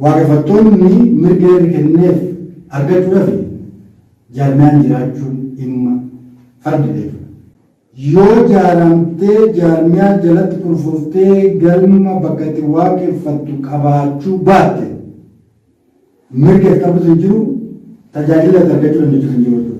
Waaqeffattoonni mirga heerri kenneef argachuudhafi jaarmiyaan jiraachuun dhimma fardi beekudha. Yoo jaaramtee jaarmiyaa jalatti kurfooftee galma bakka itti waaqeffattu qabaachuu baatte mirgi ati qabdus hin jiru, tajaajilli ati argachuu dandeechus hin jiru jechuudha.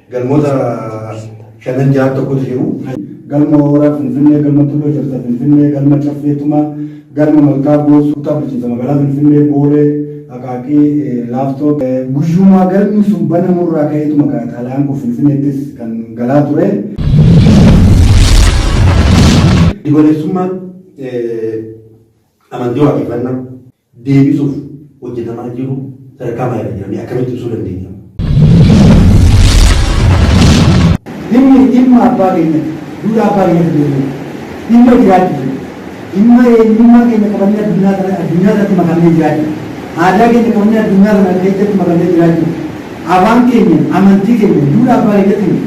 Galmoota shanan ja'a tokkotu jiru. Galma Hooraa Finfinnee, Galma Tulluu Ejersa Finfinnee, Galma Caffee Tumaa, Galma Malkaa Goosuu, Kutaa Bulchiinsa Magaalaa Finfinnee, Boolee, Aqaaqii, Laaftoo. Guyyuma galmi sun banamu irraa ka'eetuma kaa xalayaan kun Finfinneettis kan galaa ture. Giddugaleessummaan amantii waaqeffannaa. deebisuuf hojjetamaa jiru sadarkaa maalirra jira? Mee akkamitti ibsuu dandeenya? Dhimmi dhimma abbaa keenyati. Duudhaa abbaa keenyatti deebi'u. Dhimma jiraachu jiru. Dhimma eenyummaa keenya qabannee addunyaa kana addunyaa irratti makamnee jiraachu. Aadaa keenya qabannee addunyaa kana keessatti makamnee jiraachu. Afaan keenya, amantii keenya, duudhaa abbaa keenyatiin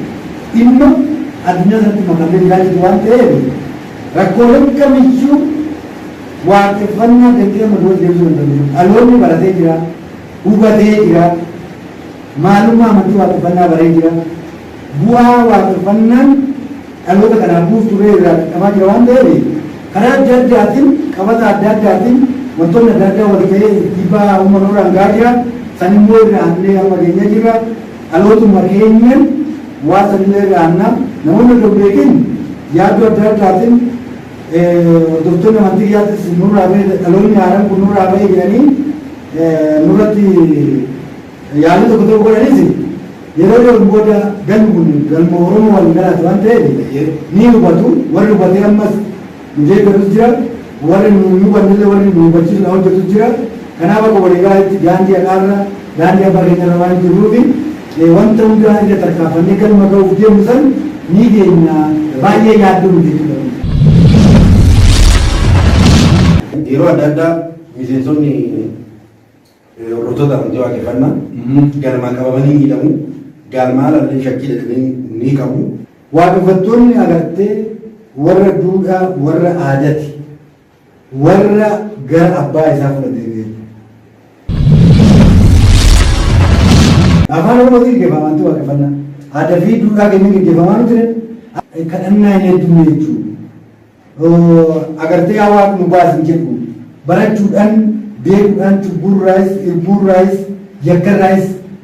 dhimma addunyaa irratti makamnee jiraachu waan ta'eef rakkooleen kamiyyuu Waaqeffannaa jettee amma duratti deebisuu danda'u hin jiru. Dhaloonni baratee jira, hubatee jira, maalummaa amantii Waaqeffannaa baree jira, bu'aa Waaqeffannaan dhaloota kanaaf buuftu illee irraa qaqqabaa jira waan ta'eef karaa adda addaatiin, qabata adda addaatiin wantoonni adda addaa wal ta'ee dhiibbaa uumama nurraan gahaa jira. San immoo irraa hannee amma geenyee jirra. Dhalootuma keenyaan waan san illee irraa hannaa. Namoonni osoo hin beekin yaaddoo adda addaatiin Hordoftoonni amantii kiyyaattis nurraa ba'e dhaloonni haaraan kun nurraa ba'e jedhanii nurratti yaalii tokko tokko godhanis yeroo dhiyoon booda galmi kun galma Oromoo waliin dhalaate waan ta'eef ni hubatu. Warri hubatee ammas nu deeggarus jira. Warri nu hin hubannellee warri nu hubachiisuudhaan hojjetus jira. Kanaaf akka waliigalaatti daandii haqaarra daandii abbaa keenyarra waan jirruuf Mee wanta hundaa irra tarkaafannee galma ga'uuf deemnu san ni geenya jedha. Baay'ee yaaddoo miti jechuudha kun. Yeroo adda addaa miseensonni hordoftoota amantii waaqeffannaa galmaan qabamanii miidhamu. Galmaan alallee shakkii jedhanii ni qabu. Waaqeffattoonni agartee warra duudhaa warra aadati. Warra gara abbaa isaa fudha deebi'e. Afaan Oromootiin geggeeffama amantii waaqeffannaa. Aadaa fi duudhaa keenya geggeeffamaa nu ture. Kadhannaa hin heddumne jechuudha. Agartee yaa Waaq nu baasi hin jedhu. Barachuudhaan, beekuudhaan, cubbuurraayis, irbuurraayis, yakkarraayis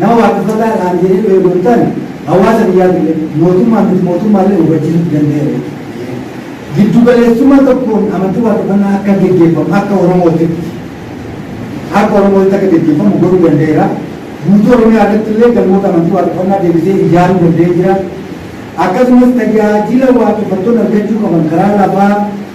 Nama waaqeffataa ta'an jedhee bahee odoo hin taane, hawaasa biyyaatiillee, mootummaa fi miti-mootummaallee hubachiisuutti danda'eera jechuudha. Giddu-galeessummaa tokkoon amantii waaqeffannaa akka geggeeffamu akka Oromootitti, akka Oromootitti akka geggeeffamu godhuu danda'eera. Guutuu Oromiyaa irrattillee galmoota amantii waaqeffannaa deebisee ijaaruu danda'ee jira. Akkasumas tajaajila waaqeffattoonni argachuu qaban karaa lafaa,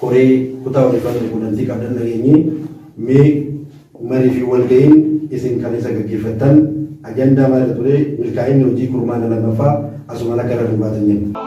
Koree kutaa odeeffannoo fi qunnamtii qabdan dhageenyee mee marii fi walga'iin isin kaleessa gaggeeffattan ajandaa maal irra ture? Milkaa'inni hojii kurmaana 2ffaa asumaan akka irra nu baatan jenna.